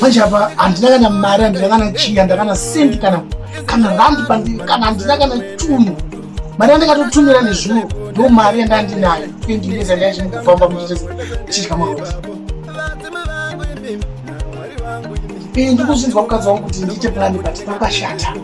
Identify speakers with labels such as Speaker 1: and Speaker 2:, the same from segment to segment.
Speaker 1: manje apa handina kana mari handina kana chiya ndakana sendi kana kana randi pandiri kana handina kana chunhu mari yandikatotumira nezvino ndo mari yandandinayo endineza ndaichimukufamba muchitechidya maoti ndikuzvinzwa mukadzi wangu kuti ndiite plani but pakashata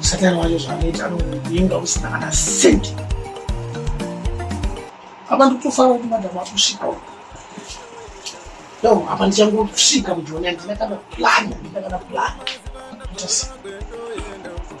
Speaker 1: satani wacho zvaanoita anoinga usina kana sendi apa ndikutofara kuti madhamu akusvika no apa ndichangosvika mujoni andina kana plani andina kana plani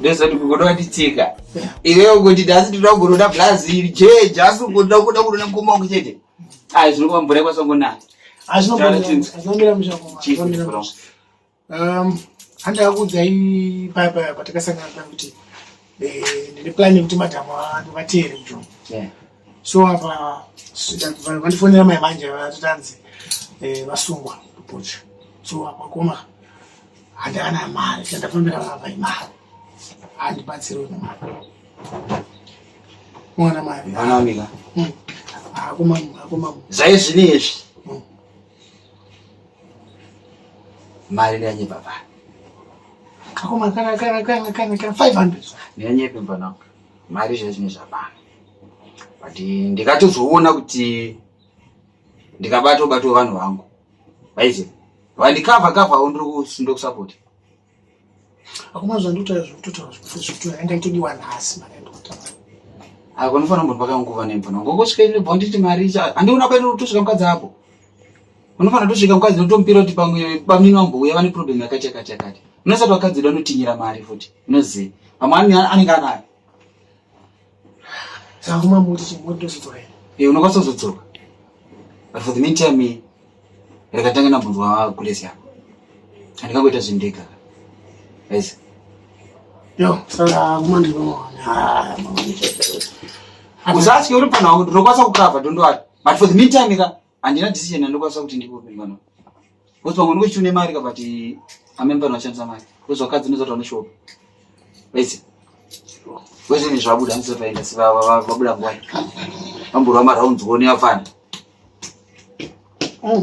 Speaker 1: ndozoti kukuda kutitsika
Speaker 2: iwewe kuti asi tinoda kugonoda blazi iri jeje asi kukuda kuda kunona mukoma wangu chete ai zvinova mvura ikwasangonaya
Speaker 1: handakakuudzai paya paya patakasangana kuti Eh, ndine plan yekuti madam vanhu vateere mjoo so apa vandifonera mai manje vatotanzi eh, vasungwa kupocha so apa koma handikana mari chandafambira vava imari handibatsiriwe nemari mwana mari hmm. zvaizvino
Speaker 2: izvi mari neyanyepa pa
Speaker 1: kakoma kana kana kana kana kana 500 neyanyepa
Speaker 2: pana mari zvacho ne zvabana but ndikatozoona kuti ndikabato bato vanhu vangu vaize vandikava kava ndiri kusundo kusupport
Speaker 1: akoma zvandotaura zvekutotaura zvekuti zvekuti yanga itodiwa nhasi mari yandotaura ako
Speaker 2: unofanira kumbonipaka nguva nembona ngokosvika ine bho nditi mari icha handiona kwaine kutosvika mukadzi ako unofanira kutosvika mukadzi notomupira kuti pamwe bamnini wambouya vane problem yakati yakati yakati unosati wakadzi uda unotinyira mari futi unoziva pamwe anenge anayo
Speaker 1: Saka mama uti chimwe ndozodzoka here? Eh, unokwanisa kuzodzoka.
Speaker 2: But for the meantime, ndakatanga nabvunzwa kulesi yako. Andikangoita zvindega. Guys. Yo,
Speaker 1: saka kuma ndiri mama.
Speaker 2: Ah, mama. Usatye uri panhu wangu ndinokwanisa kukava don't worry. But for the meantime ka handina decision yandokwanisa kuti ndikupe mwana because pamwe ndiko chitune mari but amene vanhu vashandisa mari because vakadzi ndozati vanoshova vese vese ne zvabuda ndizoti vaenda vabuda ngwai vamborwa maraunzi kuone vafana mm.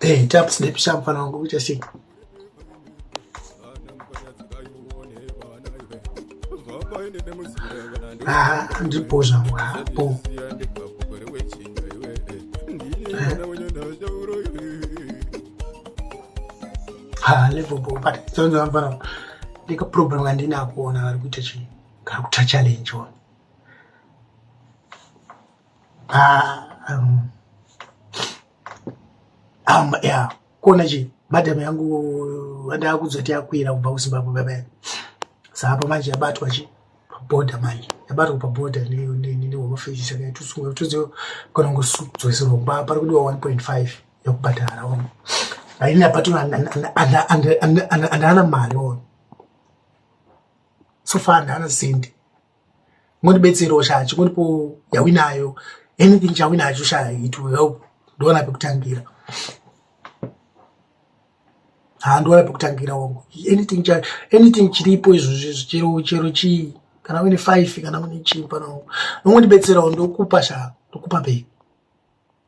Speaker 1: Hey, tap snap sharp fana wangu kuita shit. Ah, ndipo zvangu hapo. Ha, level bo, but zonzo mfana. Ndika problem ngandina kuona vari kuita chini. Kari kuta challenge one. ya kuona chi madam yangu andaa kuzoti yakwira kubva kuzimbabwe baba saapa manje yabatwa chi paboda manje yabatwa paboda nehomafesis akaitusunga toziva kana ngosudzoiserwa kuba pari kudiwa 1.5 yekubhadhara ono aini apato andaana mari ono so far andaana sendi mori betsero sha chimuripo yawinayo anything chawinacho sha it will help ndoona pekutangira handiona pekutangira wangu anything cha anything chiripo izvozvi zvichero chero chii kana une five kana une chii pano nongondibetserawo ndokupa sha ndokupa bei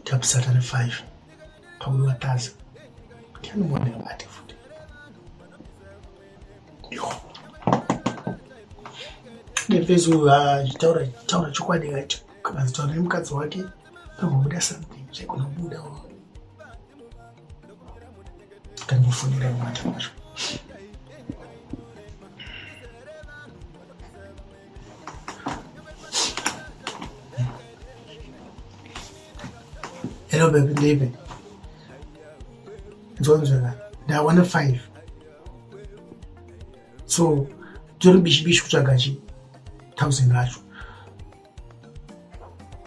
Speaker 1: ndiyabisata nefive pakuti wataza ndianomuonera bate futi yo nefesi uyu achitaura taura chokwadi kacho kanazitaura nemukadzi wake pambobuda something chaigona kubuda kandimufonera mata macho Hello baby, ndeipi? Nzonzvera, ndawana 5. So, tori bishi bishi kutsvaga chi 1000 racho.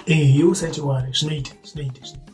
Speaker 1: Eh, iwe usaite wari, zvinoita, zvinoita, zvinoita.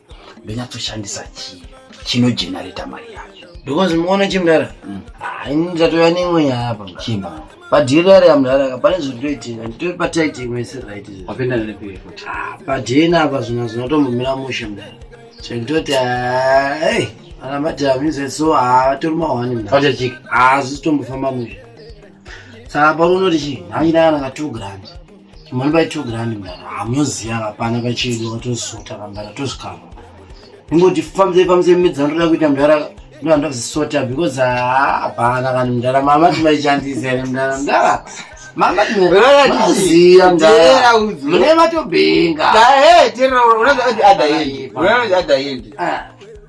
Speaker 2: ndonyatsoshandisa chii chinojenareta mari yacho because muona
Speaker 3: chimdara mm. ah, ini ndatova neimwe nyaya apa chimama padhirari amdaraka pane zvindoitika nditori pataiti imwese right wapinda nepi futi ah,
Speaker 2: padhena
Speaker 3: apa zvina zvinotombomira mushe mdara zvekutoti hey ana madam ize so atori mahwani mdaaachik hazvisi tombofamba mushe saka pano unoti chii hanyina kana ka two grand mwana bai two grand mwana hamunoziva vapana pachedu vatozisota vambara tozvikava ingoti famzei famzei midzana toda kuita mdara ndohanda kuzisota because hapana ah, vanhu mdara mama timaichandisa here mdara mdara mama timaziva mdara mune vatobhenga